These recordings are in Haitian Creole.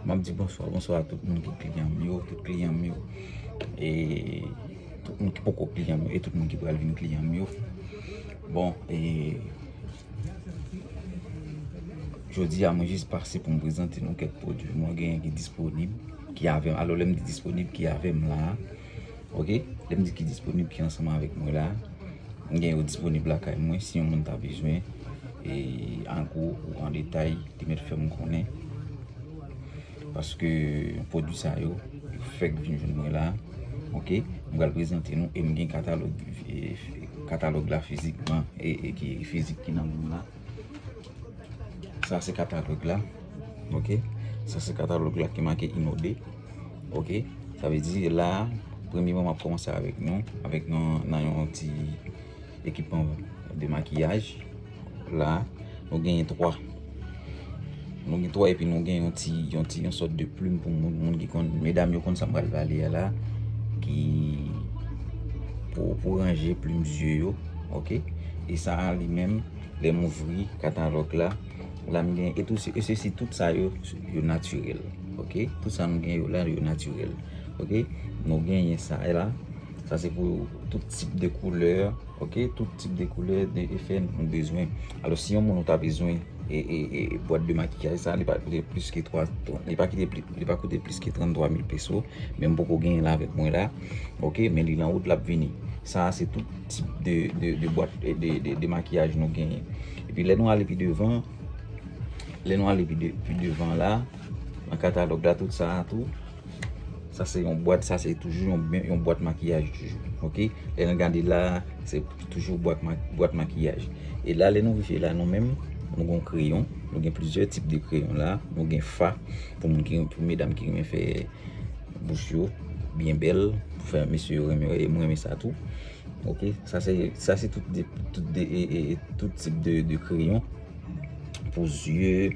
Map di bonswa, bonswa a tout moun ki kliyan m yo, tout kliyan m yo e tout moun ki poko kliyan m yo e tout moun ki pral vin kliyan m yo. Bon e jodi a mwen jis pase pou m prezante nou kèk pwodui mwen genyen ki disponib ki avè m. Alò lè m di disponib ki avè m la. Ok, lè m di ki disponib ki ansanm avèk mwen la, m gen yo disponib lakay mwen si yon moun ta bezwen e an gwo ou an detay li mèt fè m konnen. Paske pwodui sa yo fèk vin jwenn mwen la. Ok, m pral prezante nou e m gen katalòg la fizikman e ki fizik ki nan men m la. Sa se katalòg la ok Sa se katalòg la ki make inode ok Sa vle di la premye mwen ap komanse avèk nou avèk nou nan yon ti ekipman de makiyaj la nou genyen 3 Nou gen 3 epi nou gen yon ti, yon ti, yon sòt de plim pou moun, moun ki konn, medam yo konn sa m pral pale a la, ki, pou, pou ranje plim zye yo, ok, e sa a li menm, lè m ouvri katalòg la, la m gen, e tou se, e se si tout sa yo, yo natirèl, ok, tout sa m gen yo la yo natirèl, ok, nou genyen sa a la, sa se pou tout tip de koulè, ok, tout tip de koulè, de efè nou bezwen, alò si yon moun ou ta bezwen. Bwat de makiyaj sa li pa koute plis ke 3 Li pa kite plis Li pa koute plis ke 33 mil peso Men m poko genyen l avèk mwen la Ok Men li nan wout l ap vini Sa a se tout tip de bwat de makiyaj nou genyen Epi lè nou ale pi devan Lè nou ale pi devan la Nan katalòg la tout sa a tou Sa se yon bwat, sa se toujou yon bwat makiyaj toujou. Ok, lè nan gade la, se toujou bwat makiyaj. E la lè nou rive la nou menm, nou gen yon kreyon, nou gen plizyè tip de kreyon la. Nou gen fa, pou moun ki, pou medam ki renmen fè bouch yo, byen bèl, pou fè mesye yo renmen, e mwen renmen sa tou. Ok, sa se, sa se tout de, tout de, e, e, e, tout tip de, de kreyon. Pou zye,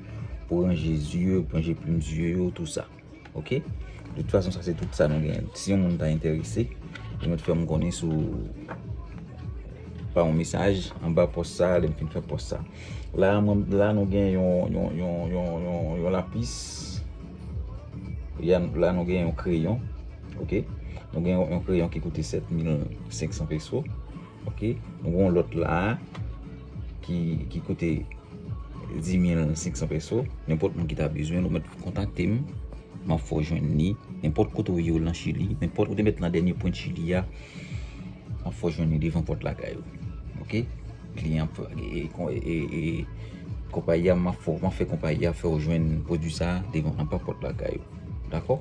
pou ranje zye, pou ranje plim zye yo, tout sa. Ok de tout fason sa se tout sa nou gen si yon moun ta enterese ou met fèm konnen sou pa yon mesaj anba pòs sa lèm fin fè pòs sa la mwen la nou gen yon yon yon yon lapis yam la nou gen yon kreyon ok nou gen yon kreyon ki koute 7500 peso Ok nou gon lot la ki koute 10500 peso nenpot moun ki ta bezwen nou met kontakte m map fè w jwenn li nenpot kote ou ye lan chili nenpot ou te met lan dènye pwen chili a map fè w jwenn li devan pot lakay ou ok kliyan e konpayi a map fè konpayi a fè w jwenn pwodui sa devan anba pot lakay ou dako.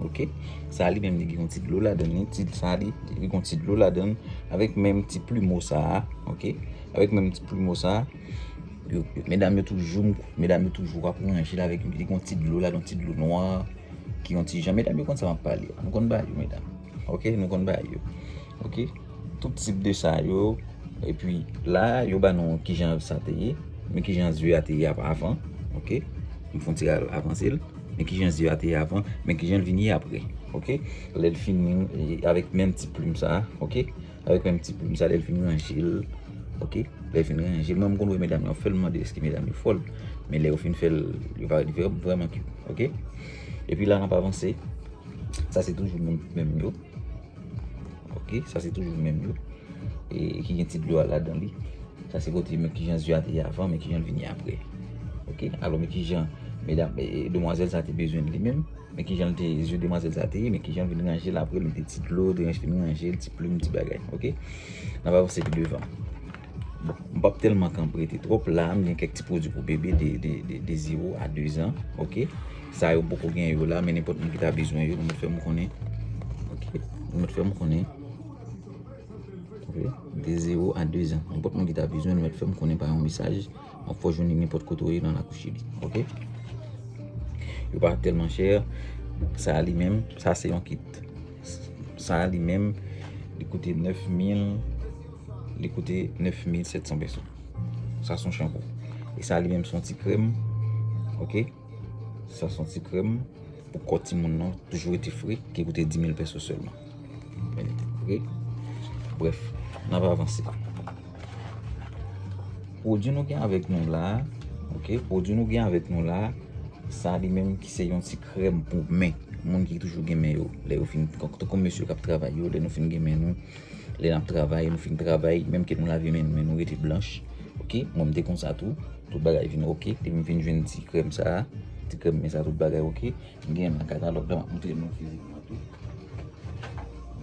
ok sa li menm li gen yon ti dlo ladan li ti sa li li gen yon ti dlo ladan avèk menm ti plumeau sa ok avèk menm ti plumeau sa medam yo toujou medam yo toujou ap ranje l avèk li gen yon ti dlo ladan ti dlo nwa ki yon ti jan medam yo konn sa map pale nou konn bagay yo medam ok nou konn bagay yo ok tout tip de sa yo epi la yo ba nou kijan sa te ye men kijan zye a te ye avan ok m fon ti avanse l Men kijan zye a te ye avan, men kijan l vin ye apre. Ok, lè l fini avèk menm ti plim sa a, ok, avèk menm ti plim sa a lè l fin ranje l, ok, lè l fin ranje l, mwen m konn wè medam yo ap fè l, m mande èske medam yo fòl, men lè yo fin fè l, yo pa li vrèman kit, ok. Epi la n ap avanse, sa se toujou menm yo. Ok, sa se toujou menm yo. E ki gen ti dlo a ladan li. Sa se kote men ki jan zye a te ye avan, men ki jan li vin ye apre. Ok, alò men ki jan medam, demwazèl sa te bezwen li menm. Men ki jan te zye demwazèl sa te ye, men ki jan vin ranje l apre li te ti dlo, te ranj fin ranje l, ti plim, ti bagay. Ok, nan va vanse pi devan. M pap telman kan prete twop la m gen kek ti pwodwi pou bebe de 0 a 2 zan ok sa yo m poko gen yo la men nenpot moun ki ta bezwen yo nou met fem konnen ok nou met fem konnen ok de 0 a 2 zan nenpot moun ki ta bezwen nou met fem konnen pa yon mesaj map fè w jwenn li nenpot kote w ye nan lakou chili ok yo pa telman chè sa li menm sa se yon kit sa li menm li koute 9000 Li koute 9700 peso. Sa son chanpou. E sa li menm son ti krem. Ok. Sa son ti krem. Pou kò ti moun nan. Toujou rete fre. Ki koute 10000 peso selman. Ok. Bref. Nan va avanse. Pwodjou nou gen avèk nou la. Ok. Pwodjou nou gen avèk nou la. Sa li menm ki se yon ti krem pou men. Moun ki toujou gen men yo. Lè yo fin. Kòk to kon mesye kap travay yo. Lè nou fin gen men nou. Lè nap travay, nou fin travay, menm ke nou lave men nou men nou rete blanch. Ok, mwen m te konsa tou. Tout bagay vin ok, depi m fin jwenn ti krèm sa a, ti krèm men sa a tout bagay ok. M gen nan katalòg la, m ap montre nou fizikman tou.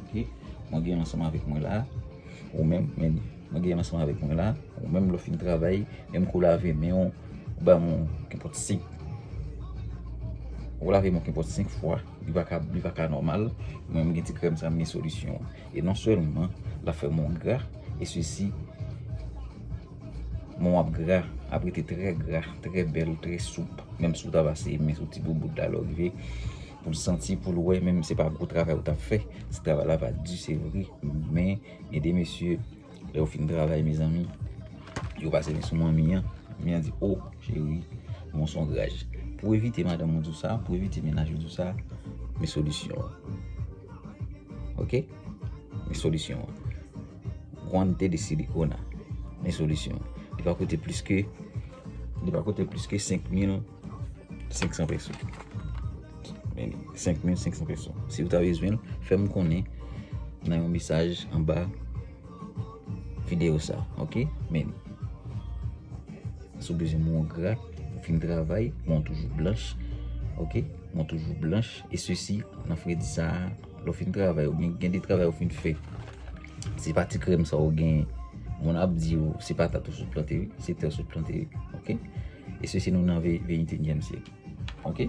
Ok, mwen gen ansanm avèk mwen la, ou menm, men mwen gen ansanm avèk mwen la. Ou menm lè w fin travay, menm ke w lave men w, ou banm yon kenpòt 5, ou lave men w kenpòt 5 fwa. Li pa ka li pa ka nòmal. Mwen m gen ti krèm sa m gen solisyon an. E non sèlman l ap fè mwen gra e sesi mwen ap gra, ap rete trè gra, trè bèl, trè soup. Menm si w ta pase men sou ti boubout la lè w rive pou l santi, pou l wè menm si se pa gwo travay ou t ap fè. Ti travay la va di se vre men mesye, mesye. Lè yo fin travay mezanmi, yo pase men sou manmi an. Manmi an di, oh cheri, bon son graj. Pou evite madanm ou di w sa, pou evite mennaj ou di w sa, men solisyon an. Ok? Men solisyon an. Guante de silicona. Men solisyon an. Li pa koute plis ke, li pa koute plis ke 5 mil. 500 peso. Men li, 5500 peso. Si ou ta bezwen, fè m konnen nan yon misaj anba videyo sa. Ok? Men li. Si ou bezwen moun gra, ou fin travay, moun toujou blanch. Ok? Moun toujou blanch. E se si, nan fredi sa, lò fin travay, ou gen de travay ou fin fè. Se pa ti krèm sa ou gen, moun ap di ou, se pa ta tou sou planteri, se te sou planteri. Ok? E sesi nou nan veyintenyèm syèk. Ok?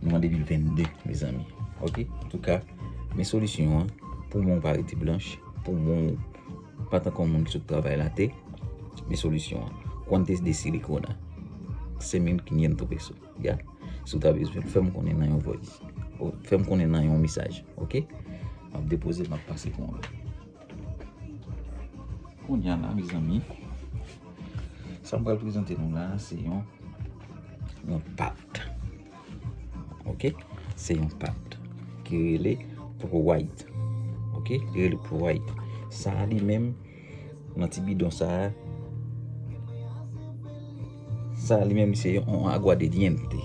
Nou an 2022, mezanmi. Ok? An tou ka, men solisyon an, pou moun pa rete blanch, pou moun pa tankou moun ki sot travay late, men solisyon an. Cuantes de silicona? Sen mil kinyentou peso. Ya? Si w ta bezwen, fè m konnen nan yon voice. Fè m konnen nan yon mesaj. Ok? M ap depoze, m ap pase pou moun. Kounya la mezanmi, sa m pral prezante nou la se yon yon pat. Ok, se yon pat ki rele pou white. Ok, ki rele pou white. Sa li menm nan ti bidon sa a. Sa li menm se yon aguadediente.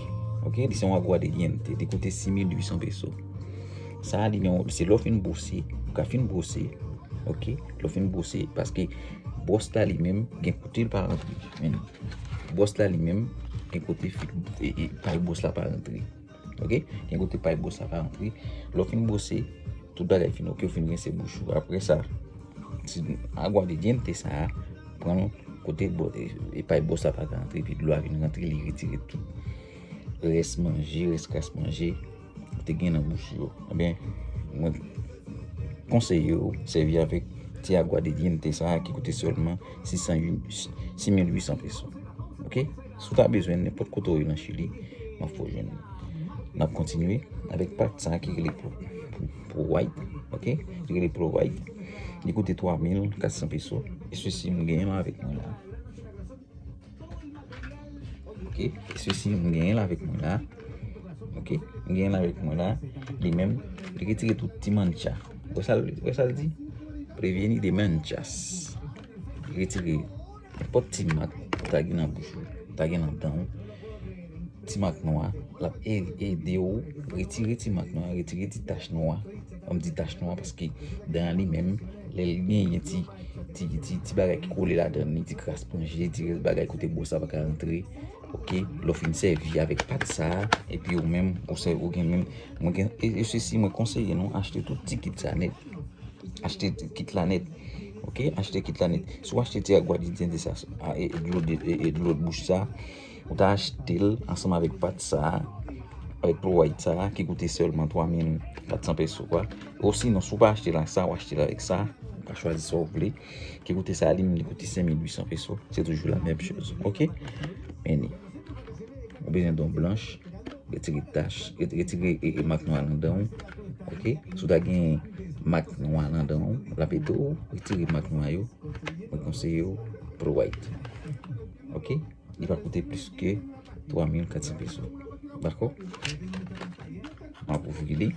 Ok, li se yon aguadediente. Li koute 6.800 peso. Sa li yon, se lò fin bwose, ou ka fin bwose. Ok, lò fin bwose. Paske, bwòs la li menm, gen kote li pa rantre. Bwòs la li menm, gen kote fi, e, e, pal bwòs la pa rantre. Ok, gen kote pay bwos la ka antre. Lè w fin bwose, tout bagay fin ok, ou fin rense bouch ou. Apre sa, ti agwa de dyente sa a, pran l kote pay bwos la pa ka antre, epi dlo a vin rantre, li retire tout rès manje, rès kras manje ou te gen nan bouch ou yo. Enben, mwen konseye ou sèvi avèk ti agwa de dyente sa a ki koute sèlman 600, 6800 peso. Ok? Si w ta bezwen l nenpòt kote w ye nan Chili, m ap fè w jwenn li. N ap kontinye avèk pat sa ki rele Pro White, ok, li rele Pro White. Li koute 3400 peso. E sesi m genyen l avèk mwen la. Ok, e sesi m genyen l avèk mwen la. Ok, m genyen l avèk mwen la. Li menm, li retire tout ti mancha. Wè sa l di? Previeni de manchas. Li retire. Nenpòt ti mak ou ta gen nan bouch ou, ou ta gen nan dan ou, ti mak nwa, l ap ede ou retire ti mak nwa, retire ti tach nwa. An m di tach nwa paske dan an li menm, lè l genyen ti, ti, ti, ti bagay ki kole ladan li, ti kras panje, ti rès bagay kote bwòs la pa ka rantre, ok, lè w fin sèvi avèk pat sa a, epi ou menm, ou se, ou gen menm, mwen gen, e sesi mwen konseye nou achte tout ti kit sa nèt, achte kit la nèt. Ok achte kit la nèt. Si w achte ti agwadidiyente sa e dlo bouch sa, ou ta achte l ansanm avèk pat sa, avèk pou wayt sa ki koute sèlman 3400 peso kwa. Osinon si w pa achte l ak sa, ou achte l avèk sa, ou ka chwazi sa w vle, ki koute sa li menm li koute 5800 peso. Se toujou la menm chòz. Ok? Meni. Ou bezwen don blanch. Retire tach, retire e mak nwa nan danw ok sou ta gen mak nwa nan danw lap edew retire mak nwa yo mwen konseyew pran white ok li pa koute plis ke 3400 peso dako map ouvri li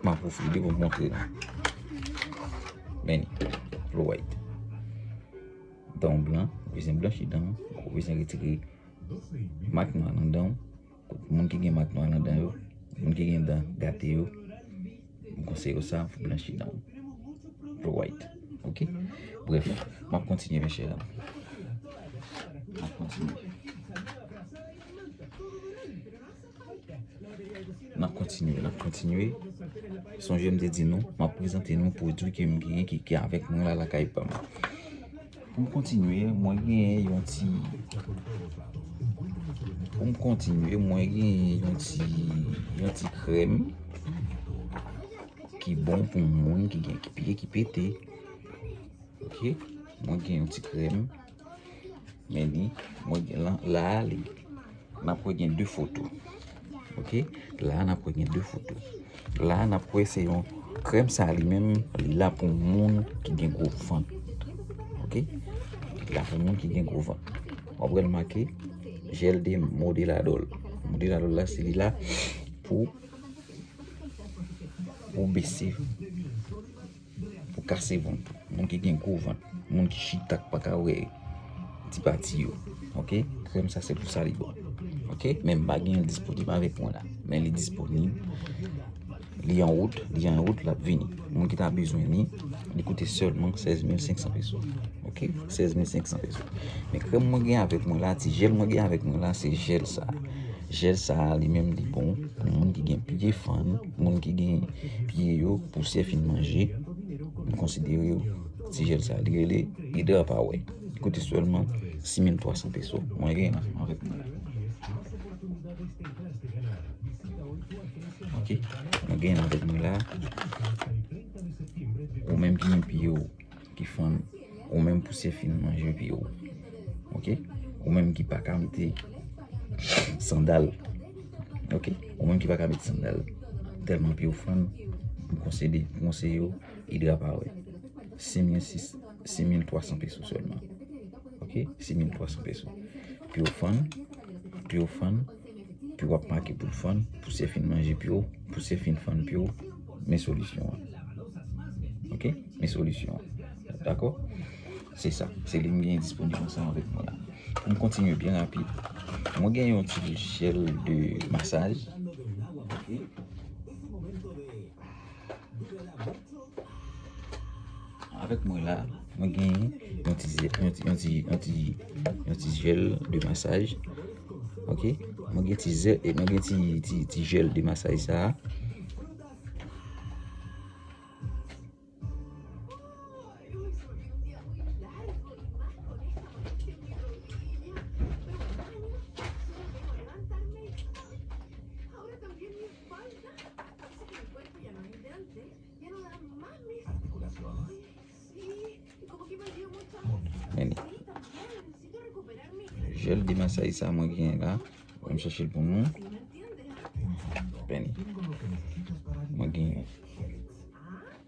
map ouvri li pou moutre nou meni pran white. Dan w blan, ou bezwen blanchi dan w, ou bezwen retire mak nwa nan dan w. Moun ki gen mak nwa nan dan yo, moun ki gen dan gate yo, m konseye w sa pou blanchi dan w. Pou white, ok? Bref, m ap kontinye mè chè dam. M ap kontinye. Nap kontinye, nap kontinye. Sonje m te di nou, map prezante nou pwodui ke m genyen ki gen avèk mwen la lakay pa m. Pou m kontinye, mwen genyen yon ti... Pou m kontinye, mwen genyen yon ti... Yon ti krèm. Ki bon pou moun ki gen ki pye ki pete. Ok? Mwen genyen yon ti krèm. Men li, mwen gen lan, la a li, nan pou gen 2 foto. Ok, la a nan pou gen 2 foto. La a nan pou e se yon krem sa li menm, li la pou moun ki gen gwo van. Ok, li la pou moun ki gen gwo van. Mwen pral make, jel de modeladol. Modeladol la se li la pou, pou bese. kasevant, moun ki gen gwo vant, moun ki chita ki pa ka wè ti pati yo ok krèm sa se pou sa li bon ok men m pa gen l disponib avèk mwen la men li disponib li an wout li an wout l ap vini moun ki ta bezwen li li koute sèlman 16500 peso ok 16500 peso men krèm mwen gen avèk mwen la ti jèl mwen gen avèk mwen la se jèl sa jèl sa li menm li bon pou moun ki gen pye fann Moun ki gen pye yo pousè fin manje, nou konsidere yo ti jèl sa li rele Hydra Power. Li koute sèlman 6300 peso. Mwen gen yon ansanm avèk mwen la. Ok, mwen gen yon avèk mwen la. Ou menm ki gen pye yo. ki fanm ou menm pou se fin manje pye ou ok ou menm ki pa ka mete sandal ok ou menm ki pa ka mete sandal telman pye ou fann m konsede m konseye ou idra power se 6300 pesos selman ok se 6300 pesos pye ou fann pye ou fann Piu ap make poul fann, pou se fin manje piu, pou se fin fann piu, men solisyon an. Ok, men solisyon an. Dako? Se sa, se li m gen disponib ansanm avèk mwen la. Pou m kontinye byen rapid, mwen gen yon ti lojsyèl de masaj. Avèk mwen la, mwen gen yon ti zè, yon ti, yon ti, yon ti, yon ti jèl de masaj. Ok, mwen gen ti zè, mwen gen ti, ti, ti jèl de masaj sa a. Jel de masay sa mwen gen la. Mwen chachil pou mwen. Mwen gen yon.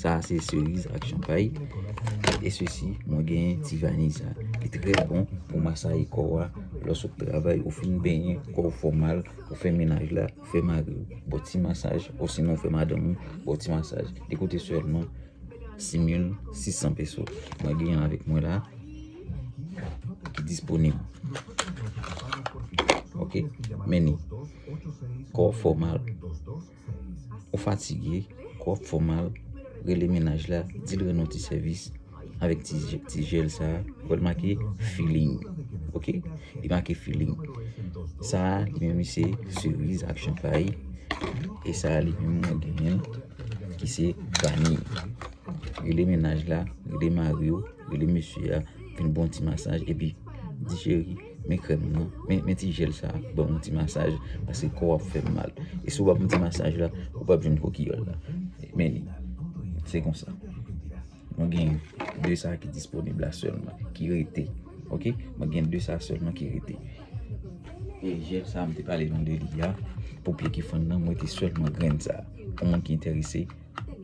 Sa a se seriz ak chanpay. E sesi, mwen gen ti vaniy sa. Li trè bon pou masaye kò a. Lòs ou travay, ou fin benyen, kò ou fè w mal, ou fè menaj la, ou fè mari w, bon ti masaj. Ou sinon ou fè madanm ou, bon ti masaj. Li koute sèlman 6600 peso. Mwen gen yon avèk mwen la ki disponib. Ok, meni. Kò ou fè w mal. Ou fatige, kò w ap fè w mal, rele mennaj la, di l rann ou ti sèvis avèk ti jèl sa a. Ou wè l make feeling ok, li make feeling. Sa a li menm li se seriz ak chanpay e sa a li menm mwen genyen ki se vani. Rele mennaj la, rele mari w, rele mesye a, fè l bon ti masaj epi di cheri. Men krèm nan, men ti jèl sa a, ban yon ti masaj, paske kò w ap fè mal. E si w pa pran ti masaj la, ou p ap jwenn kokiyòl la. Men li, se konsa. Mwen gen de sa ki disponib la sèlman, ki rete. Ok, mwen gen de sa sèlman ki rete. E jèl sa a m te pale nou de li a, pou pye ki fann nan, mwen te sèlman grenn sa a. Pou moun ki enterese,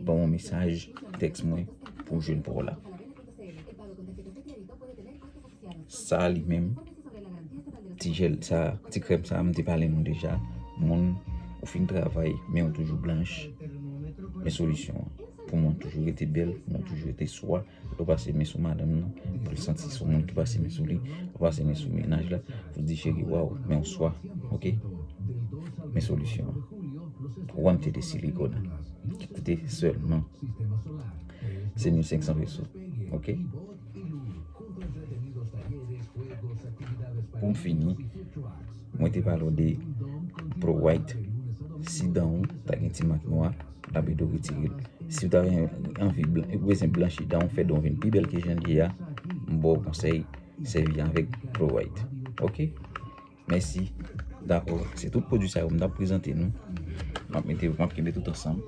ban yon mesaj, tèks mwen, pou jwenn pa w la. Sa li menm, ti jèl sa, ti krèm sa m te pale nou deja, moun ou fin travay men ou toujou blanch, men solisyon an. Pou moun toujou rete bèl, pou moun toujou rete swa, lè w pase men sou madanm nan, pou l santi se w menm ki pase men sou li, pou pase men sou mennaj la, pou l di cheri waw men w swa, ok. Men solisyon an. Ou wè m te de silikòn, ki koute sèlman 7500 peso, ok. Pou m fini, mwen te pale w de Pro White, si dan w ta gen ti mak nwa, l ap ede w retire l. Si w ta anvi bezwen blanchi dan w, fè dan w vin pi bèl ke jan l ye a, m ba w konsèy sèvi avèk Pro White. Ok! Mèsi. Dakò. Se tout pwodui sa yo m t ap prezante nou. M ap mete m ap kenbe tout ansanm.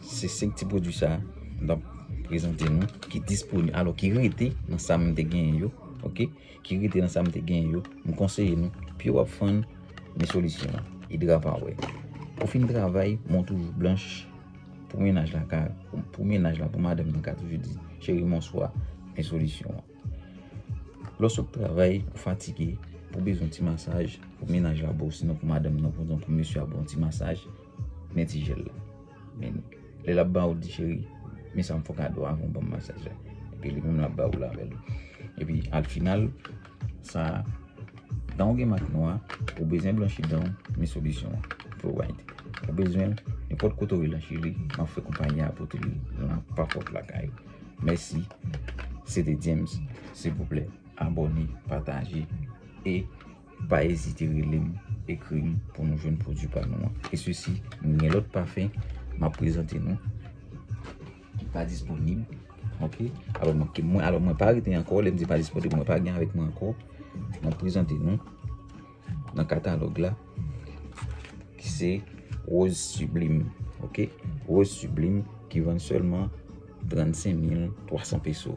Se 5 ti pwodui sa m t ap prezante nou ki disponib, alò ki rete nan sa m te genyen yo. Ok. Ki rete nan sa m te genyen yo. M konseye nou, pi w ap fann, men solisyon an, Hydrapower. Ou fin travay, men w toujou blanch pou mennaj la ka, pou mennaj la, pou madanm nan ka toujou di, Cheri m onswa, men solisyon an. Lè w sot travay, ou fatige, ou bezwen ti masaj, pou mennaj la ba w, sinon pou madanm nan, oubyen pou mesye a ba w ti masaj, men ti jèl la. Men, lè l ap ba w, ou di cheri, men sa m fè w kado avan w ban m masaj la. Epi li menm l ap ba w lavel li. Epi, al final, sa a, dan w gen mak nwa, ou bezwen blanchi dan w, men solisyon an, Flo-Ride. Ou bezwen, nenpòt kote w ye lan Chili, m ap fè konpayi a pote li, nan papòt lakay ou. Mèsi se te James silvouplè abòne pataje e pa ezite relem ekrim pou nou jwenn pwodwi pa nou an e sesi mwen gen lòt pafen map prezante nou ki pa disponib ok alò mwen ki mwen alò mwen pa rete ankò lèm di pa disponib mwen pa gen avèk mwen ankò map prezante nou. nan katalòg la ki se Rose Sublime ok Rose Sublime ki vann sèlman 35300 peso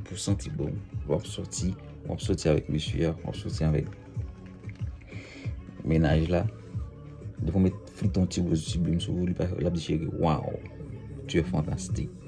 pou santi bon wap soti wap soti avèk mesye a wap soti avèk menaj la depi w met fliton ti Rose Sublime sou ou li pa lap di cheri waw tu es fantastique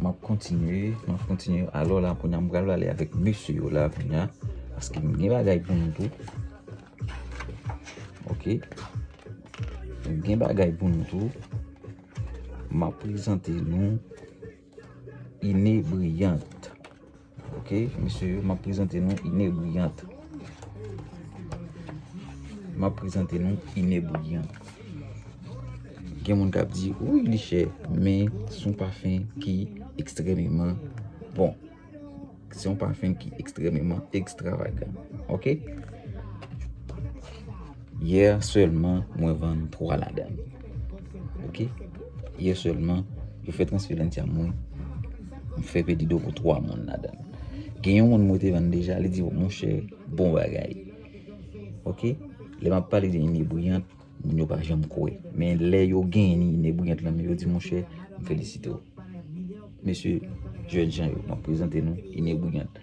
Map kontinye, map kontinye. Alo la kounya m pral ale avèk mesye yo la kounya. Paske m gen bagay pou nou tou. Ok. M gen bagay pou nou tou. Map prezante nou. Inebriant. Ok mesye yo map prezante nou inebriant Map prezante nou inebriant Gen moun kap di wi li chè men son pafen ki ekstrememan bon Son pafen ki ekstrememan ekstravagan Ok Hier selman mwen vann 3 ladann ok hier selman yo fè transfè lan ti a mwen m fè pedido pou 3 moun ladann gen yon moun mwen te vann deja li di monchè bon bagay ok lè map pale de inebriyant moun yo pa janm kwè men lè yo gen inebriyant lan men yo di monchè m felisite w mesye jèn jan yo map prezante nou inebriyant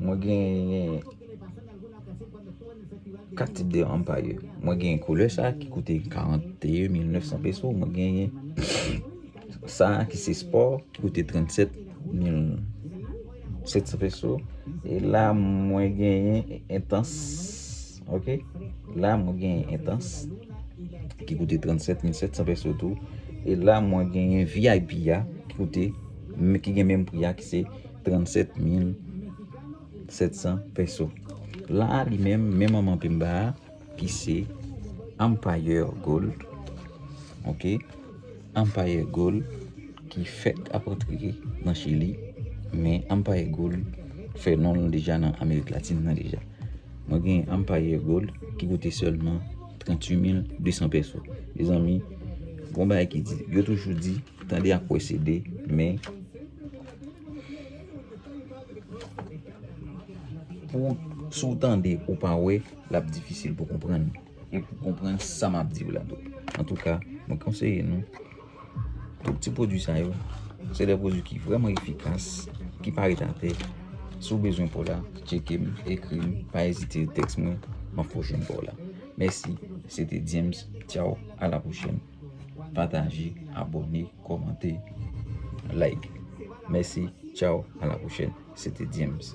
Mwen gen 4 tip de ampayè. Mwen gen koulè sa ki koute 41.900 peso. Mwen gen sa ki se sport ki koute 37.700 peso. E la mwen gen entans. Ok la mwen gen entans ki koute 37700 peso tou e la mwen gen vip ya ki koute ki gen menm pri ya ki se 37700 peso la li menm menm an manpe mba ki se empire gold ok Ampaye Gool ki fèk ap antre nan Chili men Ampaye Gool fè non l deja nan Amerik Latin nan deja. Mwen gen Ampaye Gool ki koute sèlman 38 mil 200 pèso. Mezanmi, gon bagay ki di, yo toujou di, tande ak wè se 2, men pou sou tande ou pa wè, l ap difisil pou konprann. E pou konprann sa m ap di w la tou. Antouka, mwen konseye nou, tout ti pwodui sa yo, se de pwodui ki vreman efikas, ki pa ret atè. Si w bezwen pa w la, tcheke m, ekri m, pa ezite tèks mwen, m ap fè w jwenn pa w la. Mèsi, se te James, tchaw, a la pwochèn. Pataje, abòne, kòmante, like. Mèsi, tchaw, a la pwochèn. Se te James.